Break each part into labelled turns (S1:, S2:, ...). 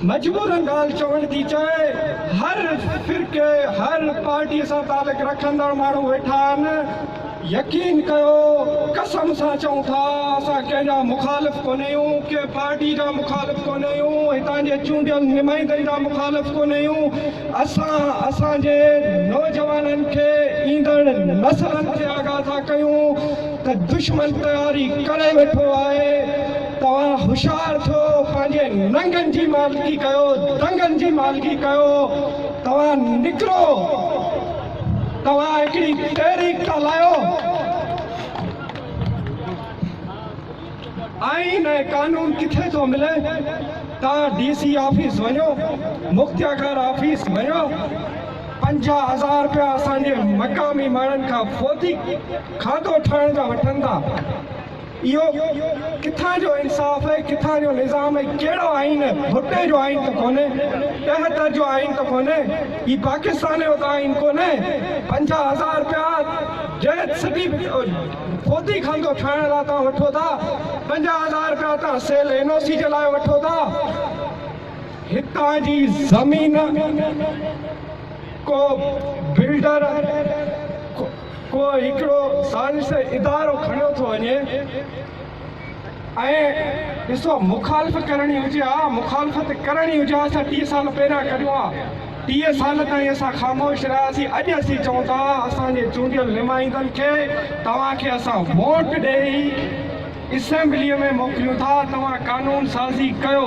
S1: مجبورن ڳالهه چوڻ ٿي چاهي، هر فرقي هر پارٽي سان تعلق رکندڙ ماڻهو ويٺا آهن، يقين ڪيو قسم سان چئون ٿا اسان ڪنهن جا مخالف ڪونه اهيون، ڪنهن پارٽي جا مخالف ڪونه اهيون، هتان جي چونڊيل نمائندن جا مخالف ڪونه اهيون، اسان اسان جي نوجوانن کي ايندڙ نسلن کي آگاهه ٿا ڪيون ته دشمن تياري ڪري ويٺو آهي، توهان هوشيار ٿيو پنهنجي ننگن جي مالڪي ڪيو دنگن جي مالڪي ڪيو توهان نڪرو توهان هڪڙي تحريڪ ٿا لايو آئين ۽ قانون ڪٿي ٿو ملي توهان ڊي سي آفيس وڃو مختياڪار آفيس وڃو پنجاهه هزار رپيا اسان جي مقامي ماڻهن کان فوتي کاتو ٺاهڻ جا وٺن ٿا اهو ڪٿان جو انصاف ۽ ڪٿان جو نظام ۽ ڪهڙو آئين؟ ڀٽي جو آئين ته ڪونهي، ٽهتر جو آئين ته ڪونهي، هي پاڪستان جو ته آئين ڪونهي، پنجاهه هزار رپيا جنهن سٽي ڦوتي خاندو ٺاهڻ لاء توهان وٺو ٿا، پنجاهه هزار رپيا توهان سيل اين او سي جي لاء وٺو ٿا، هتان جي زمين ڪو بلڊر ڪو هڪڙو ثالثي ادارو کڻيو ٿو وڃي ۽ ڏسو مخالف ڪرڻي هجي ها مخالفت ڪرڻي هجي ها اسان ٽيهه سال پهريان ڪريون ها ٽيهه سال تائين اسان خاموش رهياسين اڄ اسين چون ٿا اسان جي چونڊيل نمائندن کي توهان کي اسان ووٽ ڏئي اسيمبلي ۾ موڪليون ٿا توهان قانون سازي ڪيو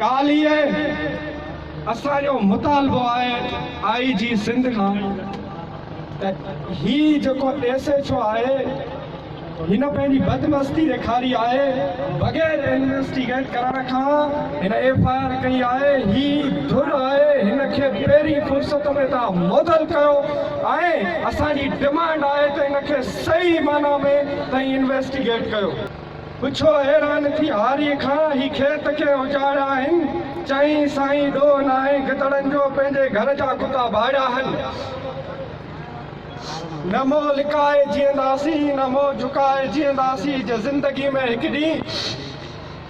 S1: ڪالهه اسان جو مطالبو آهي آء جي سنڌ کان ته هي جيڪو ايس ايڇ او آهي هن پنهنجي بدمستي ڏيکاري آهي بغير انويسٽيگيٽ ڪرڻ کان هن ايف آء آر ڪئي آهي هي ڌر آهي هن کي پهرين فرصت ۾ تان معطل ڪيو ۽ اسان جي ڊمانڊ آهي ته هن کي صحيح معنيٰ ۾ تائين انويسٽيگيٽ ڪيو. پڇو حيران ٿي هاريء کان، هي کيت ڪنهن اجاڙيا آهن؟ چيائين، سائين ڏوهه ناهي گدڙن جو، پنهنجي گهر جا ڪتا ڀاڙيا آهن. نه منهن لڪائي جيئنداسين، نه منهن جهڪائي جيئنداسين، جي زندگيء ۾ هڪ ڏينهن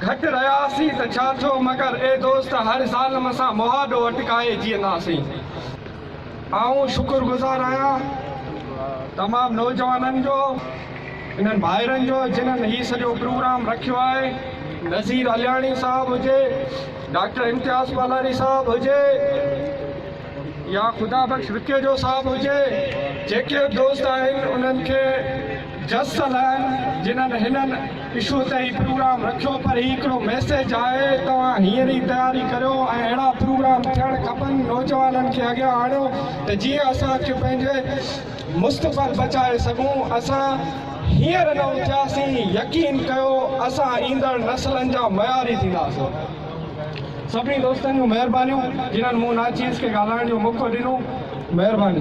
S1: گهٽ رهياسين ته ڇا ٿيو، مگر اي دوست! هر ظالم سان مهاڏو اٽڪائي جيئنداسين. آئون شڪر گذار آهيان تمام نوجوانن جو انهن ڀائرن جو جنهن هي سڄو پروگرام رکيو آهي نذير علياڻي صاحب هجي ڊاڪٽر امتياز پالاري صاحب هجي يا خدا بخش وڪيجو صاحب هجي جيڪي دوست آهن انهن کي جس سلائن جنھن ھنن اشو تي ھي پروگرام رکيو پر ھي ھڪڙو ميسيج آھي توھان ھينئر ئي تياري ڪريو ۽ اھڙا پروگرام ٿيڻ کپن نوجوانن کي اڳيان آڻيو ته جيئن اسان ڪي پنھنجي مستقبل بچائي سگھون اسان ھينئر نه اٿياسين يقين ڪيو اسان ايندڙ نسلن جا معياري ٿينداسين سڀني دوستن جون مھربانيون جنھن مون ناچيز کي ڳالھائڻ جو موقعو ڏنو مھرباني.